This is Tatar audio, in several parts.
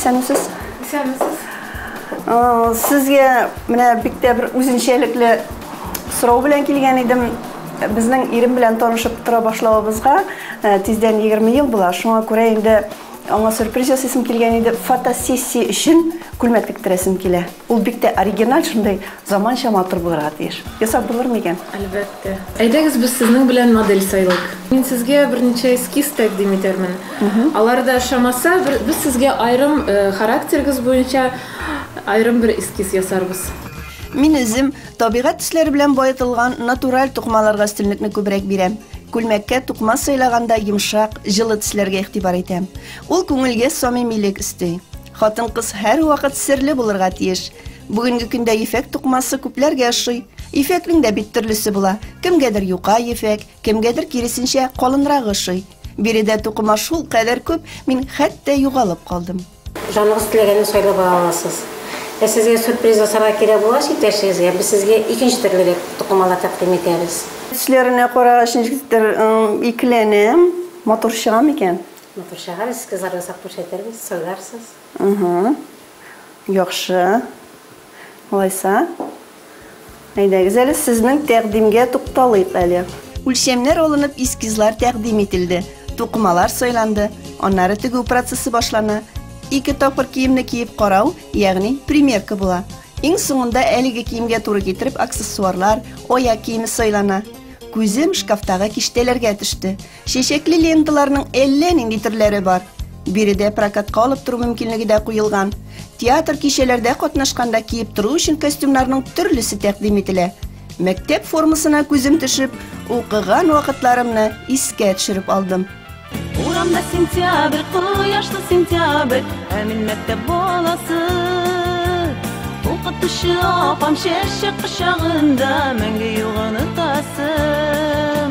Исәнмесез. Исәнмесез. Сезгә менә бик тә бер үзенчәлекле сорау белән килгән идем. Безнең ирем белән танышып тора башлавыбызга э, тиздән 20 ел була. Шуңа күрә инде аңа сюрприз ясыйсым килгән иде. Фотосессия өчен күлмәк тектерәсем килә. Ул бик тә оригиналь шундый Заманча матур булырга тиеш. Ясап булыр микән? Әлбәттә. Әйдәгез без сезнең белән модель сайлыйк. Мин сезгә берничә эскиз тәкъдим итәрмен. Алар да ошамаса, без сезгә аерым характерыгыз буенча аерым бер эскиз ясарбыз. Мин үзем табигать төсләре белән баетылган натураль тукымаларга өстенлекне күбрәк бирәм. Күлмәккә тукыма сайлаганда йомшак, җылы төсләргә игътибар итәм. Ул күңелгә самимилек өсти. Хатын-кыз һәрвакыт серле булырга тиеш. Бүгенге көндә ефәк тукмасы күпләргә ошый. Ефәкнең дә бит төрлесе була. Кемгәдер юка ефәк, кемгәдер киресенчә калынрагы ошый. Биредә тукыма шул кадәр күп, мин хәтта югалып калдым. Җаныгыз теләгәнне сайлап ала аласыз. Ә сезгә сюрприз ясарга кирәк булгач иптәшегезгә, без сезгә икенче төрле дә тукымалар тәкъдим итәбез. Төсләренә карагач, ничектер икеләнәм, матур чыга микән? Матур чыгарыгыз, кызларга сак күрсәтербез, сайларсыз. Угу. Яхшы. Алайса, әйдәгез әле сезнең тәкъдимгә тукталыйк әле. Үлчәмнәр алынып, эскизлар тәкъдим ителде, тукымалар сайланды, аннары тегү процессы башлана. Ике тапкыр киемне киеп карау, ягъни примерка була. Иң соңында әлеге киемгә туры китереп аксессуарлар, аяк киеме сайлана. Күзем шкафтагы киштәләргә төште. Чәчәкле ленталарның әллә нинди төрләре бар. Биредә прокатка алып тору мөмкинлеге дә куелган. Театр кичәләрдә катнашканда киеп тору өчен костюмнарның төрлесе тәкъдим ителә. Мәктәп формасына күзем төшеп, укыган вакытларымны искә төшереп алдым. Урамда сентябрь, кояшлы сентябрь, ә мин мәктәп баласы. Укытучы апам чәчәк кочагында мәңге юк онытасым.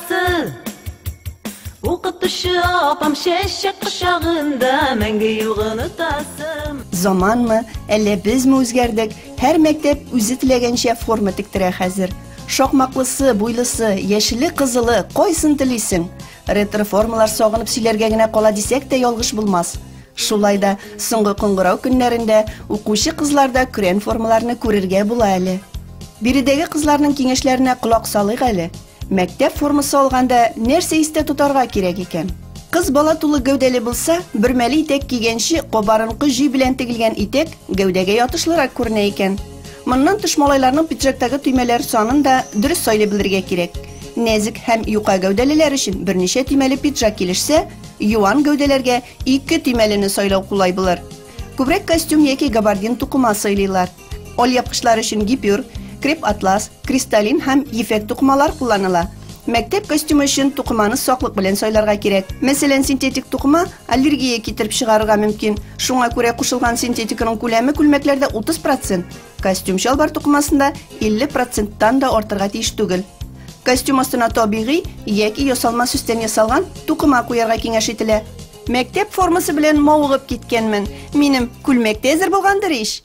Укытучы апам чәчәк кочагында мәңге юк онытасым. Заманмы, әллә безме үзгәрдек? Һәр мәктәп үзе теләгәнчә форма тектерә хәзер. Шакмаклысы, буйлысы, яшеле, кызылы, кайсын телисең? Ретро формалар сагынып сөйләргә генә кала дисәк тә ялгыш булмас. Шулай да соңгы кыңгырау көннәрендә укучы кызларда көрән формаларны күрергә була әле. Биредәге кызларның киңәшләренә колак салыйк әле. Мәктәп формасы алганда нәрсә истә тотарга кирәк икән? Кыз бала тулы гәүдәле булса, бөрмәле итәк кигәнче, кабарынкы җөй белән тегелгән итәк гәүдәгә ятышлырак күренә икән. Моннан тыш малайларның пиджактагы төймәләр санын да дөрес сайлый белергә кирәк. Нәзек һәм юка гәүдәлеләр өчен берничә төймәле пиджак килешсә, юан гәүдәләргә ике төймәлене сайлау кулай булыр. Күбрәк костюм яки габардин тукыма сайлыйлар. Ol япкычлар өчен гипюр, креп-атлас, кристаллин һәм ефәк тукымалар кулланыла. Мәктәп костюмы өчен тукыманы саклык белән сайларга кирәк. Мәсәлән, синтетик тукыма аллергия китереп чыгарырга мөмкин. Шуңа күрә кушылган синтетиканың күләме күлмәкләрдә 30 процент, костюм-чалбар тукымасында 50 проценттан да артырга тиеш түгел. Костюм астына табигый яки ясалма сөстән ясалган тукыма куярга киңәш ителә. Мәктәп формасы белән мавыгып киткәнмен. Минем күлмәк тә әзер булгандыр ич?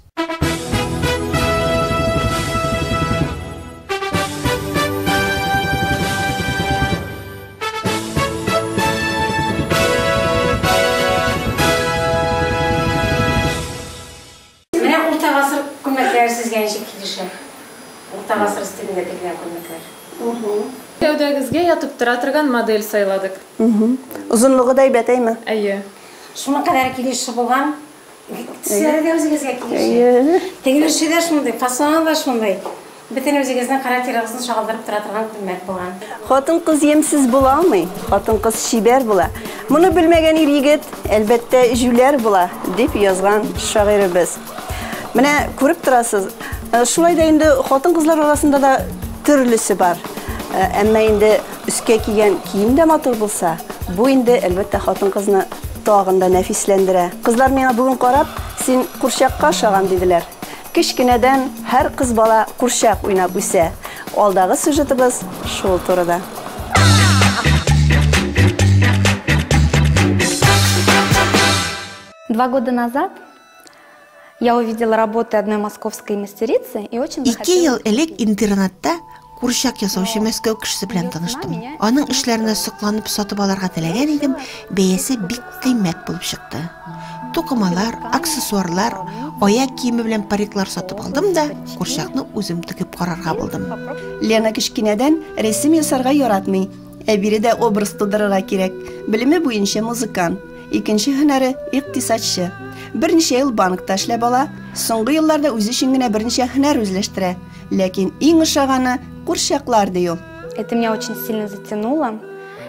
Гәүдәгезгә ятып тора торган модель сайладык. Озынлыгы да әйбәт әйме? Әйе. Шуның кадәр килешү булган. Төсләре үзегезгә килешә. Тегенеше дә шундый, фасоны да шундый. Бөтен үзегезнең характерыгызны чагылдырып тора торган күлмәк булган. Хатын-кыз ямьсез була алмый, хатын-кыз чибәр була. Моны белмәгән ир-егет, әлбәттә, җүләр була, дип язган шагыйребез. Менә күреп торасыз, шулай да инде хатын-кызлар арасында да төрлесе бар. Әмма инде Өскә кигән кием дә матур булса, бу инде, әлбәттә, хатын-кызны тагын да нәфисләндерә. Кызлар миңа бүген карап, Син курчакка ошаган, диделәр. Кечкенәдән һәр кыз бала курчак уйнап үсә. Алдагы сюжетыбыз шул турыда. Два года назад Я увидела работы одной московской мастерицы и очень Ике ел элек интернетта курчак ясаучы Мәскәү кешесе белән таныштым. Аның эшләренә сокланып сатып алырга теләгән идем, бәясе бик кыйммәт булып чыкты. Тукымалар, аксессуарлар, аяк киеме белән париклар сатып алдым да, курчакны үзем тегеп карарга булдым. Лена кечкенәдән рәсем ясарга яратмый. Ә бире дә образ тудырырга кирәк. Белеме буенча музыкант, икенче һөнәре икътисадчы. Берничә ел банкта эшләп ала, соңгы елларда үзе өчен генә берничә һөнәр үзләштерә. Ләкин иң ошаганы курчаклар, ди ул. Это меня очень сильно затянуло.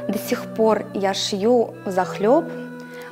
До сих пор я шью взахлеб.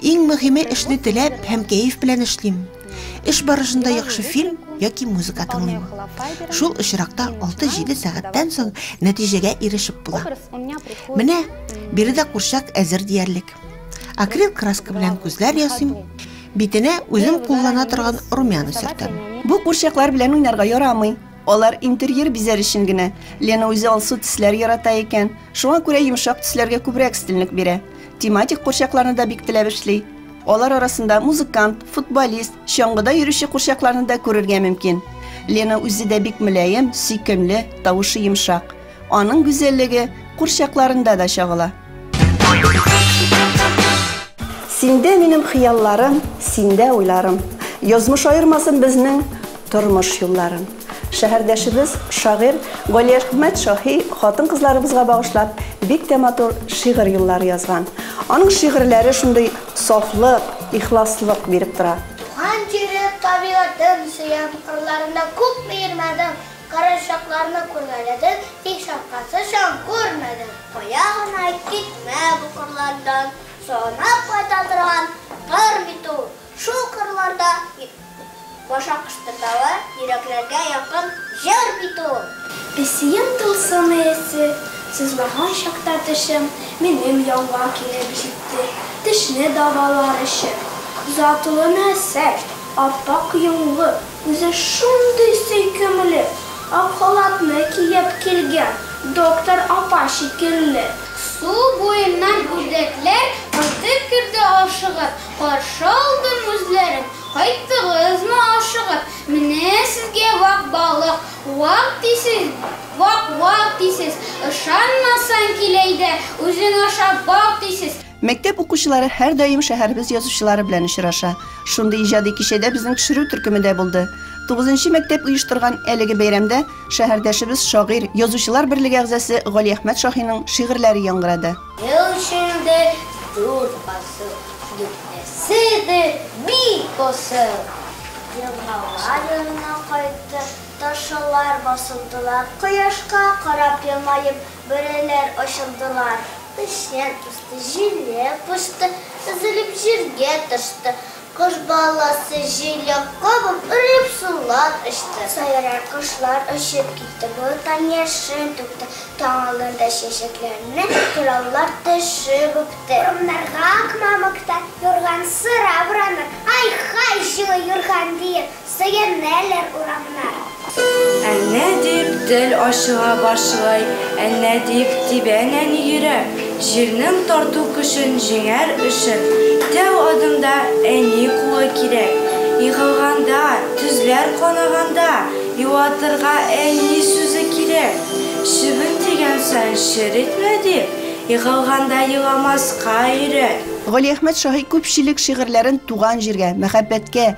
Иң мөһиме эшне теләп һәм кәеф белән эшлим. Эш барышында яхшы фильм яки музыка тыңлыйм. Шул очракта 6-7 сәгатьтән соң нәтиҗәгә ирешеп була. Менә биредә курчак әзер диярлек. Акрил краска белән күзләр ясыйм, битенә үзем куллана торган румяна сөртәм. Бу курчаклар белән уйнарга ярамый. Алар интерьер бизәр өчен генә. Лена үзе алсу төсләр ярата икән, шуңа күрә йомшак төсләргә күбрәк өстенлек бирә. Тематик курчакларны да бик теләп эшли. Алар арасында музыкант, футболист, чаңгыда йөрүче курчакларны да күрергә мөмкин. Лена үзе дә бик мөлаем, сөйкемле, тавышы йомшак. Аның гүзәллеге курчакларында да чагыла. Синдә минем хыялларым, синдә уйларым. Язмыш аермасын безнең тормыш юлларын. Шәһәрдәшебез шагыйрь Галиәхмәт Шаһи хатын-кызларыбызга багышлап бик тә матур шигырь юллары язган. Аның шигырьләре шундый сафлык, ихласлык биреп тора. Туган җирем, табигатем сөям, кырларында күп миермәдем. Карачакларны күрмәләдек, тик шапкасы чаң күрмәдек. Кая гына китмә бу кырлардан, санап кайта торган тар бит ул. Шул кырларда баша кыштырдавы, йөрәкләргә якын җыр бит ул. Песием тылсымы эссе, сызлаган чакта тешем, минем янга килеп җитте, тешне дәвалар өчен. Затлы нәсел, ап-ак йонлы, Үзе шундый сөйкемле ак халатны киеп килгән, доктор апа шикелле. Су буеннан үрдәкләр кайтып керде ашыгып, Каршы алдым үзләрен, кайттыгызмы ашыгып? Менә сезгә вак балык, вак дисез, вак-вак дисез, Ышанмасаң, кил әйдә, үзең ашап бак дисез. Мәктәп укучылары һәрдаим шәһәребез язучылары белән очраша. Шундый иҗади кичәдә безнең төшерү төркеме дә булды. Тугызынчы мәктәп оештырган әлеге бәйрәмдә шәһәрдәшебез, шагыйрь, Язучылар берлеге әгъзасы Галиәхмәт Шаһиның шигырьләре яңгырады. Ел эчендә дүрт фасыл, дүртесе дә бик асыл. Елгала янына кайтты, ташылар басылдылар, кояшка карап елмаеп. Бөреләр очылдылар. Печән үсте, җиләк пошты, өзелеп җиргә төште. Кош баласы җиләк кабып, өреп сулар эчте. Сайрар кошлар очып китте, болыттан яшен түкте. Таң алдында чәчәкләрне кыраулар төшеп үпте. Урманнарга ак мамыкта юрган сыра бураннар, ай-хай, җылы юрган, диеп. Сыеннелер урамнар. Әнә дип тел ачыла башлый, әнә дип тибә нәни йөрәк, җирнең тарту көчен җиңәр өчен, тәү адымда әни кулы кирәк. Егылганда, төзләр канаганда, юатырга әни сүзе кирәк. Чебен тигән саен чер итмә дип, егылганда еламаска өйрәт. Галиәхмәт Шаһи күпчелек шигырьләрен туган җиргә, мәхәббәткә,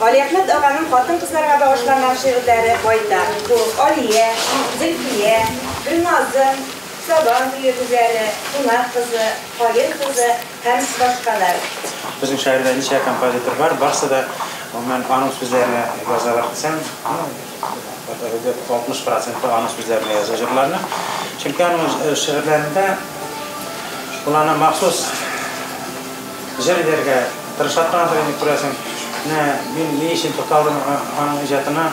Галиәхмәт аганың хатын-кызларга багышланган шигырьләре байтак. Бу Алия, Зөлфия, Гөлназым, Сабан туе гүзәле, Кунак кызы, Каен кызы һәм башкалар. Безнең шәһәрдә ничә композитор бар, барсы да, гомумән, аның сүзләренә язалар дисәм, ну, Әдәбият 60 проценты аның сүзләренә яза җырларны. Чөнки аның шигырьләрендә ул аны махсус җыр итәргә тырыша торгандыр инде, күрәсең. Менә мин ни өчен тукталдым аның иҗатына,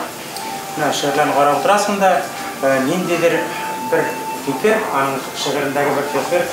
менә шигырьләрен карап утырасың да, ниндидер бер фикер, аның шигырендәге бер фикер,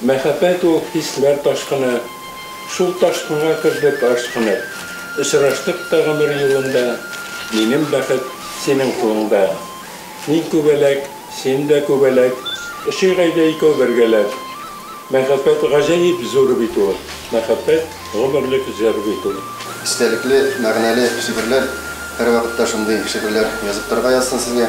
Мәхәббәт ул, хисләр ташкыны. Шул ташкынга кердек ашкынып. Очраштык та гомер юлында. Минем бәхет, синең кулыңда. Мин күбәләк, син дә күбәләк. Очыйк әйдә икәү бергәләп. Мәхәббәт гаҗәеп зур бит ул. Мәхәббәт, гомерлек җыр бит ул. Истәлекле, мәгънәле шигырьләр, һәрвакытта шундый шигырьләр язып торырга язсын сезгә.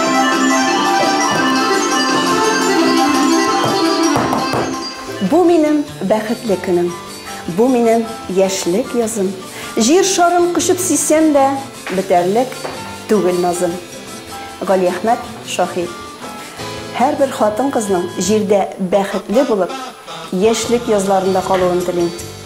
Бу минем бәхетле көнем, бу минем яшьлек язым. Җир шарын кочып сисәм дә, бетәрлек түгел назым. Галиәхмәт Шаһи. Һәрбер хатын-кызның җирдә бәхетле булып, яшьлек язларында калуын телим.